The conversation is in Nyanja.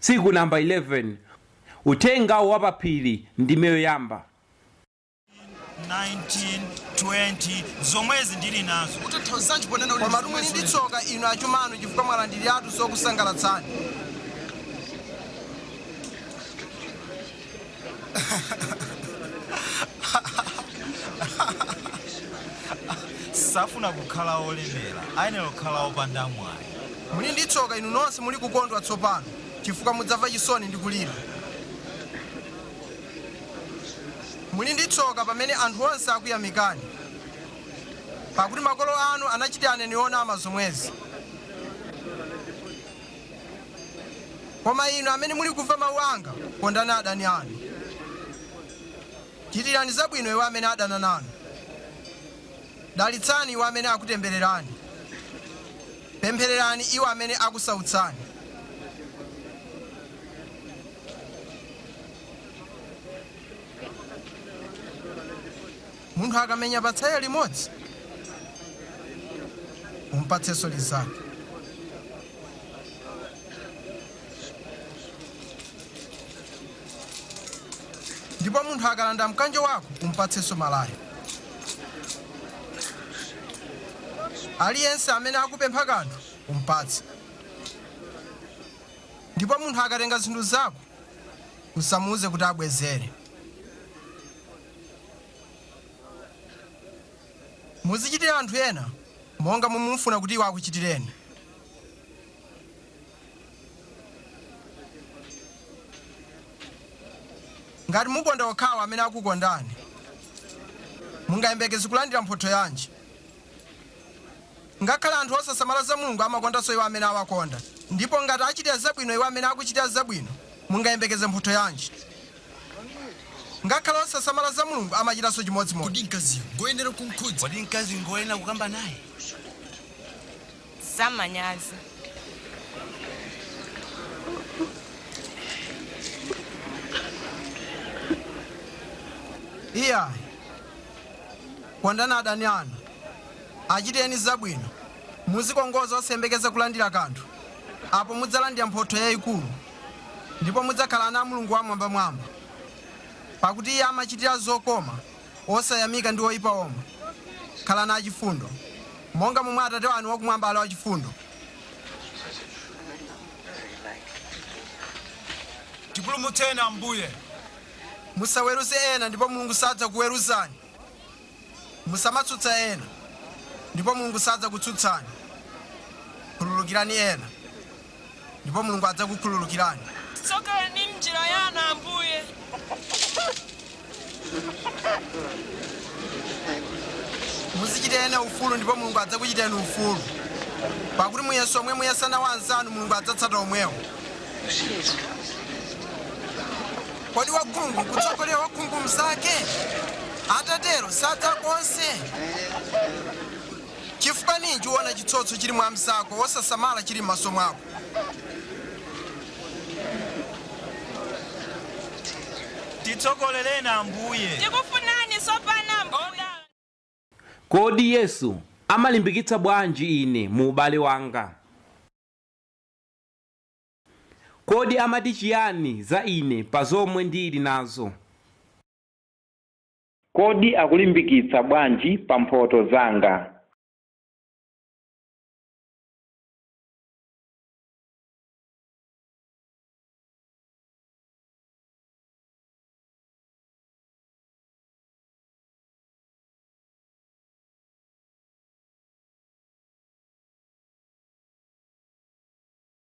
Tsiku Namba 11, Uthenga wa pa Phiri, ndime yoyamba. 19, 20 zomwezi ndili nazo utanthauzanji ponena kuti Koma muli ndi tsoka inu achumanu chifukwa mwalandiriratu zokusangalatsani safuna kukhala olemera ayenera kukhala opanda mwayi muli ndi tsoka inu nonse muli kukondwa tsopano chifukwa mudzamva chisoni ndi kulira muli ndi tsoka pamene anthu onse akuyamikani pakuti makolo anu anachitira aneni onama zomwezi Koma inu amene mulikumva mawu anga, kondani adani anu. Chitirani zabwino iwo amene adana nanu. Dalitsani iwo amene akutembererani. Pemphererani iwo amene akusautsani. Munthu akamenya patsaya limodzi, um'patsenso linzake. Ndipo munthu akalanda mkanjo wako, um'patsenso malaya. Aliyense amene akupempha kanthu, um'patse. Ndipo munthu akatenga zinthu zako, usamuuze kuti abwezere. Muzichitira anthu ena monga momwe mufuna kuti iwo akuchitireni. Ngati mukonda okhawo amene akukondani, mungayembekeze kulandira mphotho yanji? Ngakhale anthu osasamala za Mulungu amakondanso iwo amene awakonda. Ndipo ngati achitira zabwino iwo amene akuchitira zabwino, mungayembekeze mphotho yanji? Ngakhale osasamala za Mulungu amachitanso chimodzimodzi. Kodi mkaziyo ngoyenera kumkhudza? Kodi mkazi ngoyenera kukamba naye? za manyazi. Iyayi. Kondani adani anu, achitireni zabwino, muzikongoza osayembekeza kulandira kanthu, apo mudzalandira mphotho yayikulu. ndipo mudzakhala ana a Mulungu Wam'mwambamwamba, pakuti iye amachitira zokoma osayamika ndi oipa omwe. Khalani achifundo, monga momwe Atate wanu wakumwamba ali wachifundo. Tipulumutseni, Ambuye. Musaweruze ena, ndipo Mulungu sadzakuweruzani. Musamatsutsa ena, ndipo Mulungu sadzakutsutsani. Khululukirani ena, ndipo Mulungu adzakukhululukirani. Tsogolani m'njira yanu, Ambuye. Muzichitira ena ufulu, ndipo Mulungu adzakuchitirani ufulu. Pakuti muyeso omwe muyesa nawo anzanu, Mulungu adzatsata omwewo. Kodi wakhungu nkutsogolera wakhungu mnzake? Atatero sadza konse. Chifukwa ninji uona chitsotso chili mwa mnzako, wosasamala chili m'maso mwako? Titsogolereni Ambuye. Tikufunani tsopano Ambuye. Kodi Yesu amalimbikitsa bwanji ine mu ubale wanga? Kodi amati chiyani za ine pa zomwe ndili nazo? Kodi akulimbikitsa bwanji pa mphoto zanga?